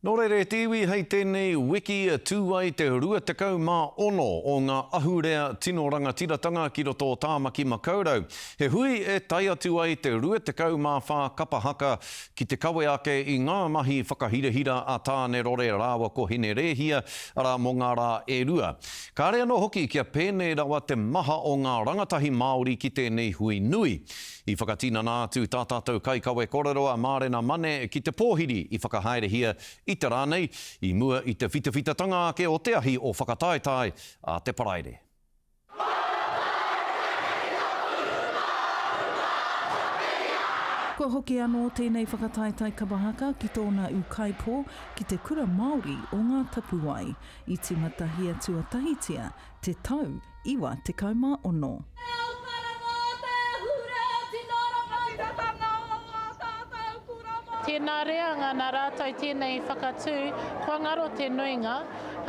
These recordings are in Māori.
Nō reira te iwi hei tēnei wiki tū ai te 26 o ngā ahurea tino rangatiratanga ki roto o Tāmaki Makaurau. He hui e tae atu ai te 24 kapa haka ki te kawe ake i ngā mahi whakahirahira a Tāne Rore rāua ko Hine Rēhia, arā mō ngā rā e rua. Kāre anō hoki kia pēnei rawa te maha o ngā rangatahi Māori ki tēnei hui nui. I whakatinana atu tā tātou kaikawe kōrero a Mārena Mane ki te pōhiri i whakahaerehia i te rā nei, i mua i te whitawhitatanga ake o te ahi o Whakataetae a te Paraire. Kua hoki anō tēnei whakataetae kapa haka ki tōna ūkaipō ki te kura Māori o Ngā Tapuwae. I tīmatahia tuatahitia te tau iwa tekau mā ono. Tēnā reanga nā rātou tēnei i whakatū, kua ngaro te nuinga,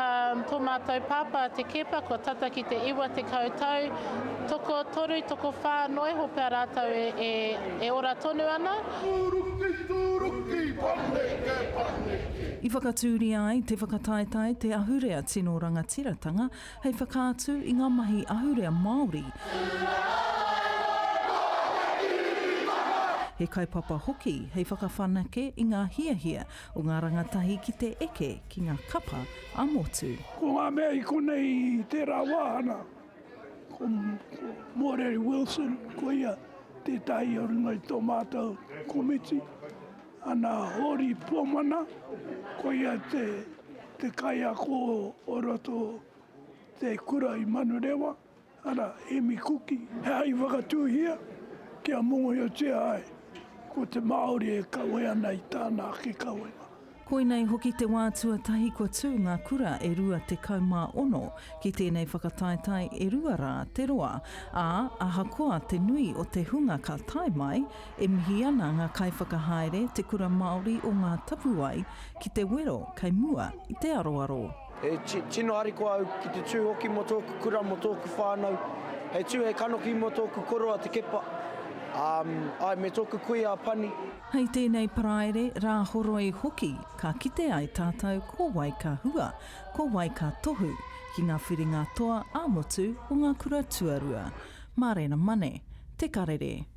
ā, tō mātou pāpā te Keepa kua tata ki te iwa tekau tau, tokotōru, tokowhā, noa iho pea rātou e, e, e ora tonu ana. Tūruki, tūruki, paneke, paneke. I whakatūria ai te whakataetae Te Ahurea Tino Rangatiratanga hei whakaatu i ngā mahi ahurea Māori, he kaupapa hoki hei whakawhanake i ngā hiahia o ngā rangatahi ki te eke ki ngā kapa ā-motu. Ko ngā mea i konei i tērā wāhanga Ko Moreri Wilson, ko ia tētahi o runga i tō mātou komiti, ana Hōri Pōmana, ko ia te kaiako o roto o te kura i Manurewa, arā, Emi Kuki. He aha i whakatūhia kia mōhiotia ai ko te Māori e kawe ana i tāna ake kawenga? Koinei hoki te wā tuatahi kua tū ngā kura e 26 ki tēnei whakataetae e rua rā te roa, ā, ahakoa te nui o te hunga ka tae mai, e mihi ana ngā kaiwhakahaere Te Kura Māori o Ngā Tapuwae ki te wero kei mua i te aroaro. He tino harikoa au ki te tū hoki mō tōku kura, mō tōku whānau, hei tū, hei kanohi mō tōku koroa Te Kepa, āe me tōku kuia a Pani. Hei tēnei Paraire Rāhoroi hoki ka kite ai tātou ko wai ka hua, ko wai ka tohu ki ngā whiringa toa ā-motu o ngā kura tuarua. Mārena Mane, Te Karere.